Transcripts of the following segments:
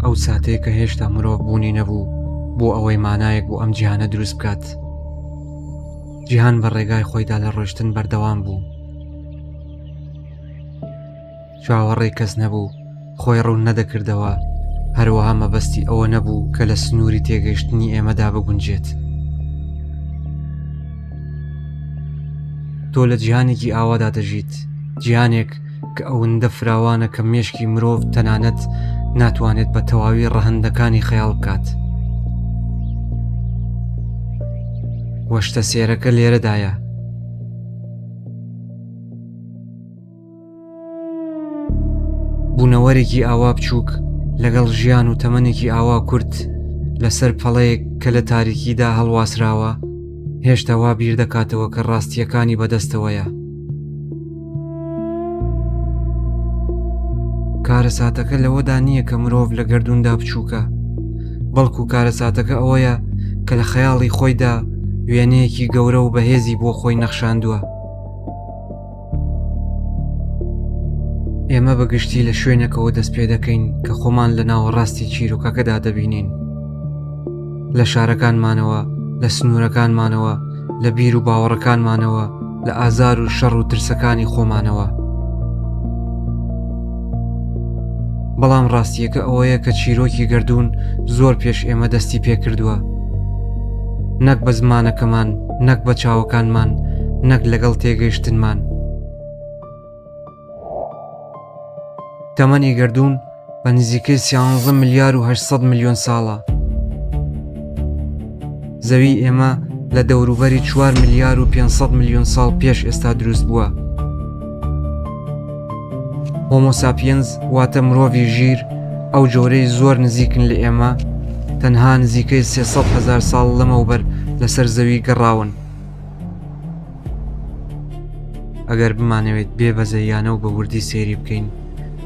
ئەو ساتێ کە هێشتا مرۆڤ بوونی نەبوو بۆ ئەوەی مانایەک بۆ ئەم جیهانە دروست بکات جیهان بە ڕێگای خۆیدا لە ڕۆشتن بەردەوام بوو چاوەڕێ کەس نەبوو خۆی ڕوون نەدەکردەوە هەروەها مەبەستی ئەوە نەبوو کە لە سنووری تێگەشتنی ئێمەدا بگونجێت تۆ لە جیهانێکی ئاوادا دەژیت جیهانێک کە ئەوندە فراوانە کە مێشکی مرۆڤ تەنانەت ناتوانێت بە تەواوی ڕەهندەکانی خەیاڵ بکات وەشتە سێرەکە لێرەدایە بوونەوەرێکی ئاوا بچووک لەگەڵ ژیان و تەمەنێکی ئاوا کورت لەسەر پەڵەیەک کە لە تاریکیدا هەڵواسراوە هێشتا وا بیر دەکاتەوە کە ڕاستیەکانی بەدەستەوەیە کارەساتەکە لەوەدا نییە کە مرۆڤ لە گردوندا بچووکە بەڵکو کارەساتەکە ئەوەیە کە لە خەیاڵی خۆیدا وێنەیەکی گەورە و بەهێزی بۆ خۆی نەخشاندووە ئێمە بەگشتی لە شوێنەکەەوە دەست پێ دەکەین کە خۆمان لە ناوەڕاستی چیرۆکەکەدا دەبینین لە شارەکانمانەوە لە سنوورەکانمانەوە لە بیر و باوەڕەکانمانەوە لە ئازار و شەڕ و ترسەکانی خۆمانەوە بەڵام ڕاستیەکە ئەوەیە کە چیرۆکی گردردون زۆر پێش ئێمە دەستی پێکردووە نەک بە زمانەکەمان نەک بە چاوەکانمان نەک لەگەڵ تێگەیشتنمان تەمەنی گردوون بە نزیکەی سیانزە ملیار و 800 میلیۆن ساڵە زەوی ئێمە لە دەوروبەری 4 ملیار و 500 میلیۆن ساڵ پێش ئێستا دروست بووە هۆمۆساپینز واتە مرۆڤی ژیر ئەو جۆرەی زۆر نزیکن لە ئێمە تەنها نزیکەی 300 هزار ساڵ لەمەوبەر لەسەر زەوی گەڕاون ئەگەر بمانەوێت بێ بەزەیانە و بە وردی سێری بکەین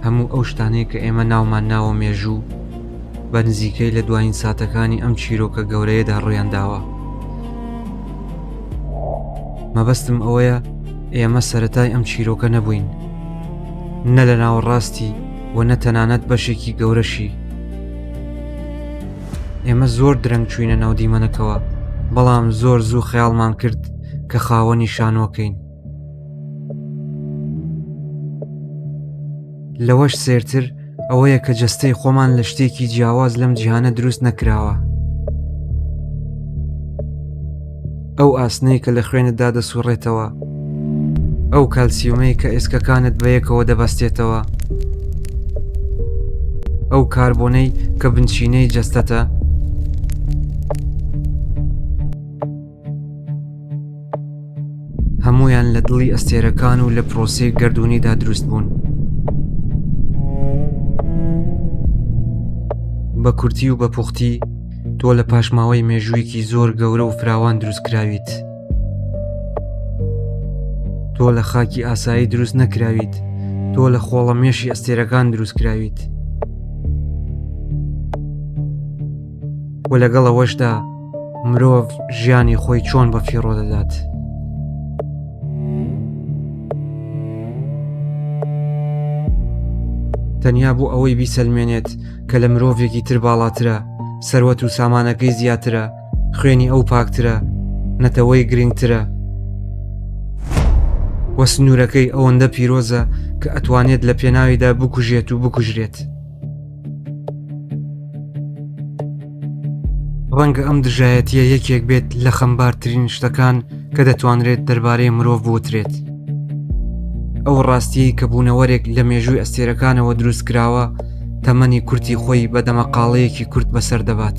هەموو ئەو شتانەی کە ئێمە ناومان ناوە مێژوو بە نزیکەی لە دوایین ساتەکانی ئەم چیرۆکە گەورەیەدا ڕویان داوە مەبەستم ئەوەیە ئێمە سەتای ئەم چیرۆکە نەبووین نە لە ناوەڕاستی و نە تەنانەت بەشێکی گەورەشی ئێمە زۆر درەنگ چوینە ناو دیمەنەکەوە بەڵام زۆر زوو خەیاڵمان کرد کە خاوەنی شانۆکەین لەوەش سێرتر ئەوەیە کە جەستەی خۆمان لە شتێکی جیاواز لەم جیهانە دروست نەکراوە ئەو ئاسنەی کە لە خوێنتدا دەسوڕێتەوە ئەو کالسیومەی کە ئێسکەکانت بە یەکەوە دەبەستێتەوە ئەو کاربۆنەی کە بنچینەی جەستەتە هەمویان لە دڵی ئەستێرەکان و لە پرۆسی گردردونیدا دروست بوون بە کورتی و بە پوختی تۆ لە پاشماوەی مێژوویەکی زۆر گەورە و فراوان دروستکراویت تۆ لە خاکی ئاسایی دروست نەکراویت تۆ لە خۆڵە مێشی ئەستێرەکان دروستکراویت و لەگەڵ ئەوەشدا مرۆڤ ژیانی خۆی چۆن بە فیڕۆ دەدات. تەنیا بۆ ئەوەی بیسەلمێنێت کە لە مرۆڤێکی تر باڵاترە سەروەت و سامانەکەی زیاترە خوێنی ئەو پاکترە نەتەوەی گرنگترە وە سنوورەکەی ئەوەندە پیرۆزە کە ئەتوانێت لە پێناویدا بکوژێت و بکوژرێت. ڕەنگە ئەم دژایەتیە یەکێک بێت لە خەمبارترین شتەکان کە دەتوانرێت دەربارەی مرۆڤ بوترێت ئەو ڕاستیە کە بوونەوەرێک لە مێژووی ئەستێرەکانەوە دروست کراوە تەمەنی کورتی خۆی بە دەمەقاڵەیەکی کورت بەسەر دەبات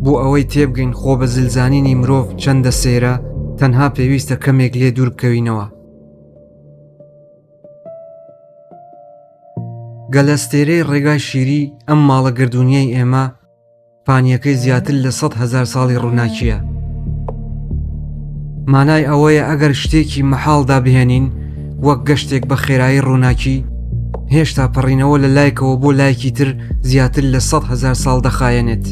بۆ ئەوەی تێبگەین خۆ بە زلزانینی مرۆڤ چەندە سەیرە تەنها پێویستە کەمێک لێ دوور بکەوینەوە گەلەستێرەی ڕێگای شیری ئەم ماڵە گردردونیەی ئێمە پانیەکەی زیاتر لە سە هزار ساڵی ڕووناکیە مانای ئەوەیە ئەگەر شتێکی مەحاڵدا بهێنین وەک گەشتێک بە خێرایی ڕووناکی هێشتا پەڕینەوە لە لایکەوە بۆ لایەکی تر زیاتر لە سە هزار ساڵ دەخایەنێت.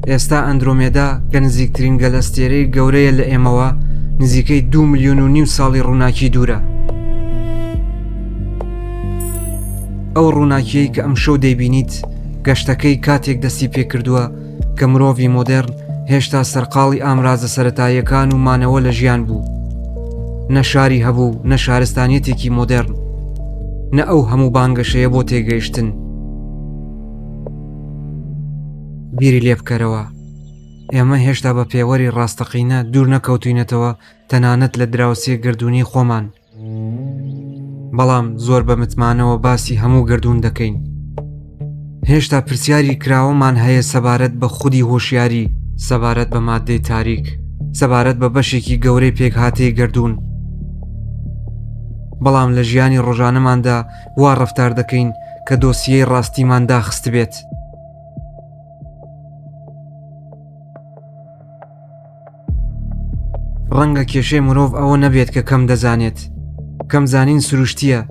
ئێستا ئەندرۆمێدا کە نزیکترین گەلەستێرەی گەورەیە لە ئێمەوە نزیکەی دو ملیۆن و نیو ساڵی ڕووناکی دوورە ئەو ڕووناکیەی کە ئەم شەو دەیبینیت گەشتەکەی کاتێک دەستی پێکردووە کە مرۆڤی مۆدرن هێشتا سەرقاڵی ئامرازە سەتاییەکان و مانەوە لە ژیان بوو نە شاری هەبوو نە شارستانیەتێکی مۆدرن نە ئەو هەموو بانگەشەیە بۆ تێگەیشتن بیری لێ بکەرەوە ئێمە هێشتا بە پێوەری ڕاستەقینە دوور نەکەوتوینەتەوە تەنانەت لە دراوسێ گردردونی خۆمان بەڵام زۆر بە متمانەوە باسی هەموو گردون دەکەین هێشتا پرسیاری کراوەمان هەیە سەبارەت بە خودی هۆشیاری سەبارەت بە مادەی تاریک سەبارەت بە بەشێکی گەورەی پێکهاتەی گردون بەڵام لە ژیانی ڕۆژانەماندا وا ڕفتار دەکەین کە دۆسیەی ڕاستیمان داخست بێت. ڕەنگە کێشەی مرۆڤ ئەوە نەبێت کە کەم دەزانێت کەم زانین سروشتیە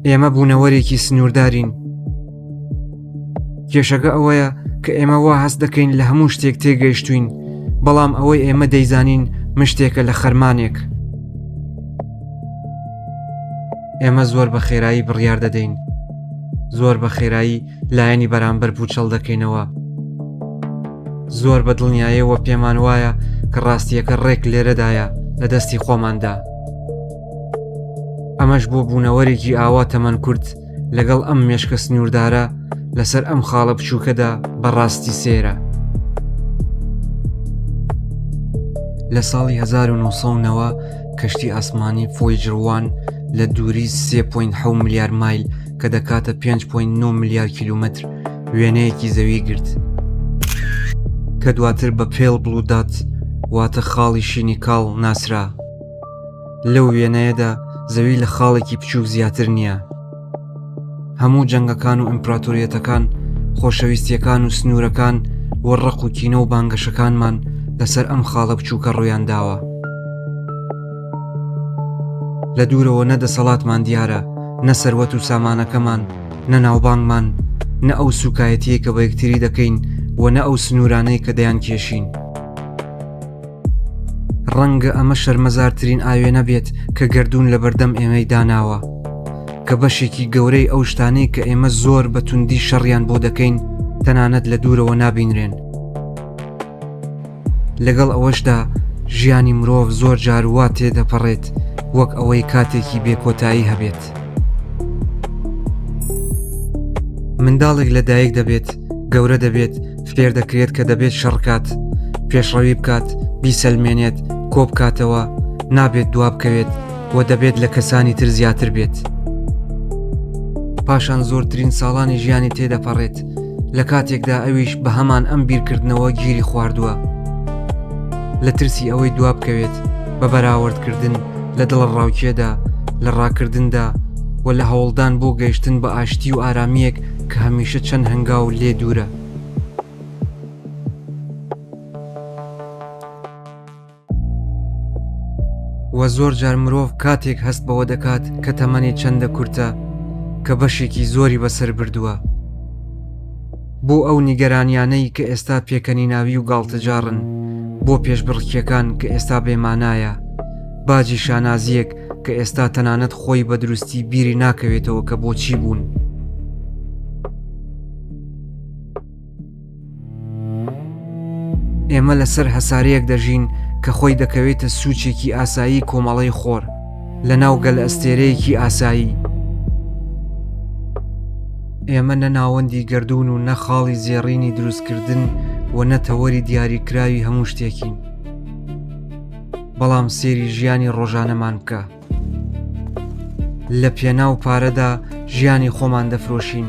ئێمە بوونەوەرێکی سنووردارین کێشەکە ئەوەیە کە ئێمە وا هەست دەکەین لە هەموو شتێک تێگەیشتوین بەڵام ئەوەی ئێمە دەیزانین مشتێکە لە خەرمانێک ئێمە زۆر بە خێرایی بڕیار دەدەین زۆر بە خێرایی لایەنی بەرامبەر پوچەڵ دەکەینەوە زۆر بە دڵنیایەوە پێمان وایە کە ڕاستیەکە ڕێک لێرەدایە لە دەستی خۆماندا ئەمەش بۆ بوونەوەرێکی ئاوا تەمەەن کورد لەگەڵ ئەم مێشکە سنووردارە لەسەر ئەم خاڵە بچووکەدا بەڕاستی سێرە لە ساڵی 1990ەوە کەشتی ئاسمانی فۆیجر وان لە دووری 3.7 ملیار مایل کە دەکاتە 5.9 ملیار کیلومتر وێنەیەکی زەوی گرت کە دواتر بە پێڵ بلوودات واتە خاڵی شینی کاڵ ناسرا لەو وێنەیەدا زەوی لە خاڵێکی بچووک زیاتر نییە هەموو جەنگەکان و ئیمپراتۆریەتەکان خۆشەویستیەکان و سنوورەکان و ڕق و کینە و بانگەشەکانمان لەسەر ئەم خاڵە بچووکە ڕوویان داوە لە دوورەوە نە دەسەڵاتمان دیارە نە سەروەت و سامانەکەمان نە ناوبانگمان نە ئەو سوکایەتیە کە بە یەکتری دەکەین و نە ئەو سنوورانەی کە دەیان کێشین. ڕەنگە ئەمە شەرمەزارترین ئاوێنە بێت کە گردردون لە بەردەم ئێمەی داناوە کە بەشێکی گەورەی ئەو شتانەی کە ئێمە زۆر بە توندی شەڕیان بۆ دەکەین تەنانەت لە دوورەوە نابینرێن لەگەڵ ئەوەشدا ژیانی مرۆڤ زۆر جاروا تێدەپەڕێت وەک ئەوەی کاتێکی بێکۆتایی هەبێت. منداڵێک لە دایک دەبێت گەورە دەبێت فێر دەکرێت کە دەبێت شەڕکات پێشڕەوی بکات بیسەلمێنێت کۆ بکاتەوە نابێت دواب بکەوێت و دەبێت لە کەسانی تر زیاتر بێت پاشان زۆرترین ساڵانی ژیانی تێدەپەڕێت لە کاتێکدا ئەویش بە هەمان ئەم بیرکردنەوە گیری خواردووە لە ترسی ئەوەی دواب بکەوێت بە بەراوردکردن لە دڵەڕاوکێدا، لە ڕاکردندا و لە هەوڵدان بۆ گەیشتن بە ئاشتی و ئارامییەک کە هەمیشە چەند هەنگاو لێ دوورە. وە زۆر جار مرۆڤ کاتێک هەست بەوە دەکات کە تەمەنی چەندە کورتە کە بەشێکی زۆری بەسەر بردووە، بۆ ئەو نیگەرانیانەی کە ئێستا پێکەنیناوی و گاڵتەجاڕن، بۆ پێشبڕکێکان کە ئێستا بێ مانایە، باجی شانازییەک کە ئێستا تەنانەت خۆی بە دروستی بیری ناکەوێتەوە کە بۆچی بوون. ئێمە لەسەر هەسارەیەک دەژین کە خۆی دەکەوێتە سوچێکی ئاسایی کۆمەڵەی خۆر، لە ناو گەلەستێرەیەکی ئاسایی ئێمە نە ناوەندی گردردون و نە خاڵی زێڕینی دروستکردن و نە تەوەری دیاریکراوی هەموو شتێکین بەڵام سێری ژیانی ڕۆژانەمان بکە لە پێناو پارەدا ژیانی خۆمان دەفرۆشین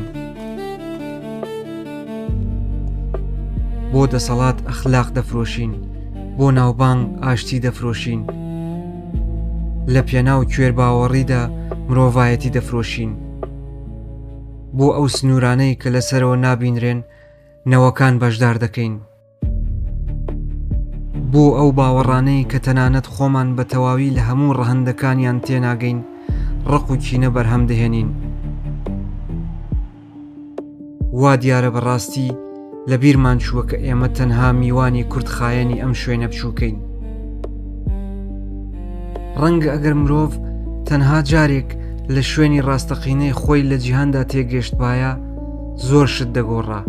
بۆ دەسەڵات ئەخلاق دەفرۆشین بۆ ناوبانگ ئاشتی دەفرۆشین لە پێناو کوێر باوەڕیدا مرۆڤایەتی دەفرۆشین بۆ ئەو سنوورانەی کە لەسەرەوە نابینرێن نەوەکان بەشدار دەکەین بۆ ئەو باوەڕانەی کە تەنانەت خۆمان بە تەواوی لە هەموو ڕەهندەکانیان تێناگەین ڕق و کینە بەرهەم دەهێنین وا دیارە بەڕاستی لە بیرمان چووە کە ئێمە تەنها میوانی کورتخایەنی ئەم شوێنە بچووکەین ڕەنگە ئەگەر مرۆڤ تەنها جارێک لە شوێنی ڕاستەقینەی خۆی لە جیهاندا تێگەشتبایە زۆر شت دەگۆڕا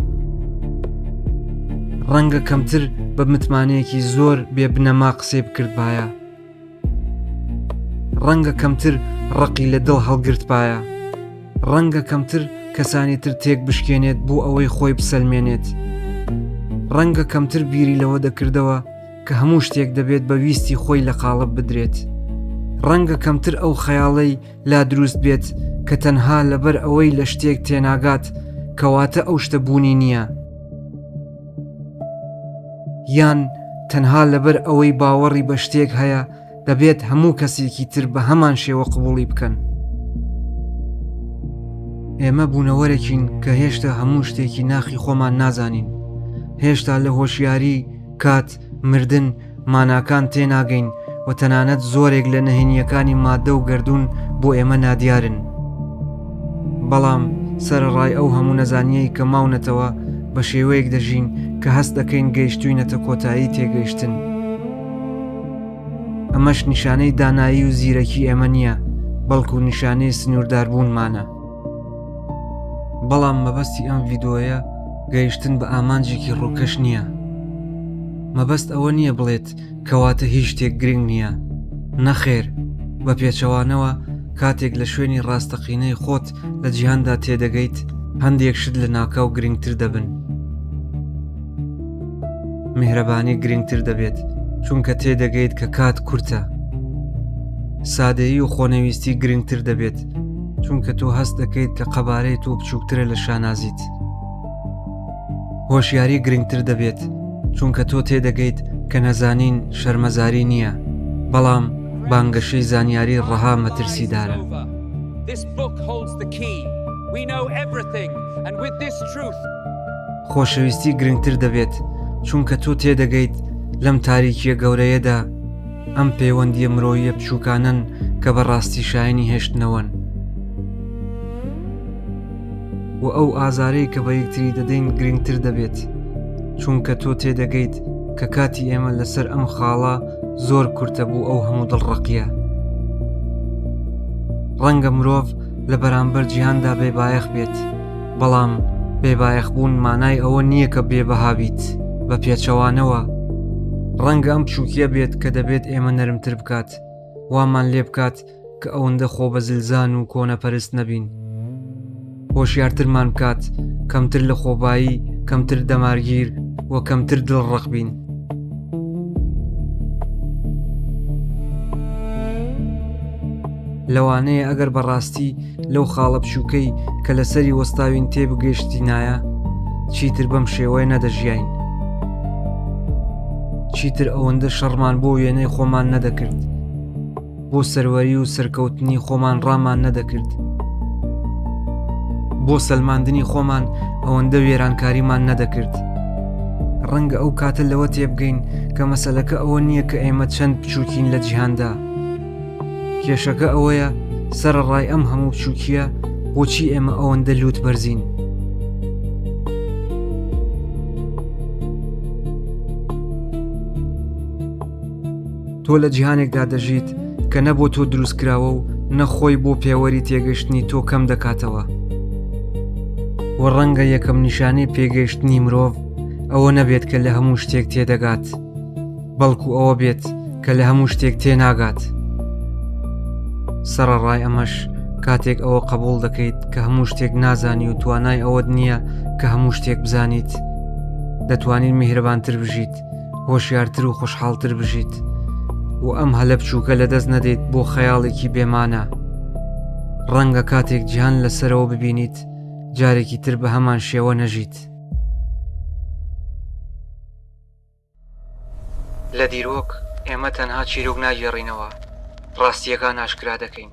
ڕەنگە کەمتر بە متمانەیەکی زۆر بێ بنەما قسەی بکردبایە ڕەنگە کەمتر ڕقی لە دڵ هەڵگرتبایە ڕەنگە کەمتر کەسانی تر تێک بشکێنێت بۆ ئەوەی خۆی بسەلمێنێت ڕەنگە کەمتر بیری لەوە دەکردەوە کە هەموو شتێک دەبێت بە ویستی خۆی لە قاڵب بدرێت ڕەنگە کەمتر ئەو خەیاڵەی لا دروست بێت کە تەنها لەبەر ئەوەی لە شتێک تێناگات کەواتە ئەو شتە بوونی نییە، یان تەنها لەبەر ئەوەی باوەڕی بە شتێک هەیە دەبێت هەموو کەسێکی تر بە هەمان شێوە قبوڵی بکەن. ئێمە بوونەوەرەکین کە هێشتا هەموو شتێکی ناخی خۆمان نازانین هێشتا لە هۆشیاری کات مردن، ماناکان تێناگەین و تەنانەت زۆرێک لە نهێنییەکانی ماددە و گردوون بۆ ئێمە نادیارن. بەڵام سەرەڕای ئەو هەموو نەزانیەی کە ماونەتەوە بە شێوەیەک دەژین کە هەست دەکەین گەیشتوینەتە کۆتایی تێگەیشتن. ئەمەش نیشانەی دانایی و زیرەکی ئێمە نییە، بەڵکو نیشانەی سنوورداربوونمانە. بەڵام مەبەستی ئەم ڤیدۆیە گەیشتن بە ئامانجێکی ڕووکەش نییە مەبەست ئەوە نییە بڵێت کەواتە هیچ شتێک گرنگ نییە نەخێر بە پێچەوانەوە کاتێک لە شوێنی ڕاستەقینەی خۆت لە جیهاندا تێدەگەیت هەندێک شت لە ناکاو گرنگتر دەبن میهرەبانی گرنگتر دەبێت چونکە تێدەگەیت کە کات کورتە سادەیی و خۆنەویستی گرنگتر دەبێت چونکە تۆ هەست دەکەیت کە قەبارەی تۆ بچووکترە لە شانازیت هۆشیاری گرنگتر دەبێت چونکە تۆ تێدەگەیت کە نەزانین شەرمەزاری نییە بەڵام بانگەشەی زانیاری ڕەها مەترسیدارە. This book holds the key. We know everything, and with this truth, خۆشەویستی گرنگتر دەبێت چونکە تۆ تێدەگەیت لەم تاریکیە گەورەیەدا ئەم پەیوەندیە مرۆیە بچووکانن کە بە ڕاستی شایانی هێشتنەوەن و ئەو ئازارەی کە بە یەکتری دەدەین گرنگتر دەبێت چونکە تۆ تێدەگەیت کە کاتی ئێمە لەسەر ئەم خاڵە زۆر کورتە بوو ئەو هەموو دڵڕقیە ڕەنگە مرۆڤ لە بەرامبەر جیهاندا بێ بایەخ بێت بەڵام بێبایەخبوون مانای ئەوە نییە کە بێبەها بیت بە پێچەوانەوە ڕەنگە ئەم چووکیە بێت کە دەبێت ئێمە نەرمتر بکات وامان لێ بکات کە ئەوەندە خۆ بە زلزان و کۆنەپەرست نەبین هۆشیارترمان بکات کەمتر لە خۆبایی کەمتر دەمارگیر و کەمتر دڵ ڕق بین لەوانەیە ئەگەر بەڕاستی لەو خاڵە بچووکەی کە لەسەری وەستاوین تێبگەشتینایە چیتر بەم شێوەیە نەدەژیین چیتر ئەوەندە شەڕمان بۆ وێنەی خۆمان نەدەکرد بۆ سەروەری و سەرکەوتنی خۆمان ڕامان نەدەکرد بۆ سەلماندنی خۆمان ئەوەندە وێرانکاریمان نەدەکرد ڕەنگە ئەو کاتە لەوە تێبگەین کە مەسلەکە ئەوە نییە کە ئێمە چەند بچووکین لە جیهاندا کێشەکە ئەوەیە سەرڕای ئەم هەموو چووکیە بۆچی ئێمە ئەوەندە لووت بەرزین تۆ لە جیهانێکدا دەژیت کە نە بۆ تۆ دروست کراوە و نەخۆی بۆ پێوەری تێگەشتنی تۆ کەم دەکاتەوە و ڕەنگە یەکەم نیشانەی پێگەیشتنی مرۆڤ ئەوە نەبێت کە لە هەموو شتێک تێدەگات. بەڵکو ئەوە بێت کە لە هەموو شتێک تێناگات سەرڕای ئەمەش کاتێک ئەوە قبول دەکەیت کە هەموو شتێک نازانی و توانای ئەوەت نییە کە هەموو شتێک بزانیت دەتوانین میهرەبانتر بژیت هۆشیارتر و خۆشحاڵتر بژیت و ئەم هەلە بچووکە لە دەست نەدەیت بۆ خەیاڵێکی بێمانە ڕەنگە کاتێک جیهان لەسەرەوە ببینیت جارێکی تر بە هەمان شێوە نەژیت. لە دیرۆک ئێمە تەنها چیرۆک ناگێڕینەوە، ڕاستییەکان ئاشکرا دەکەین.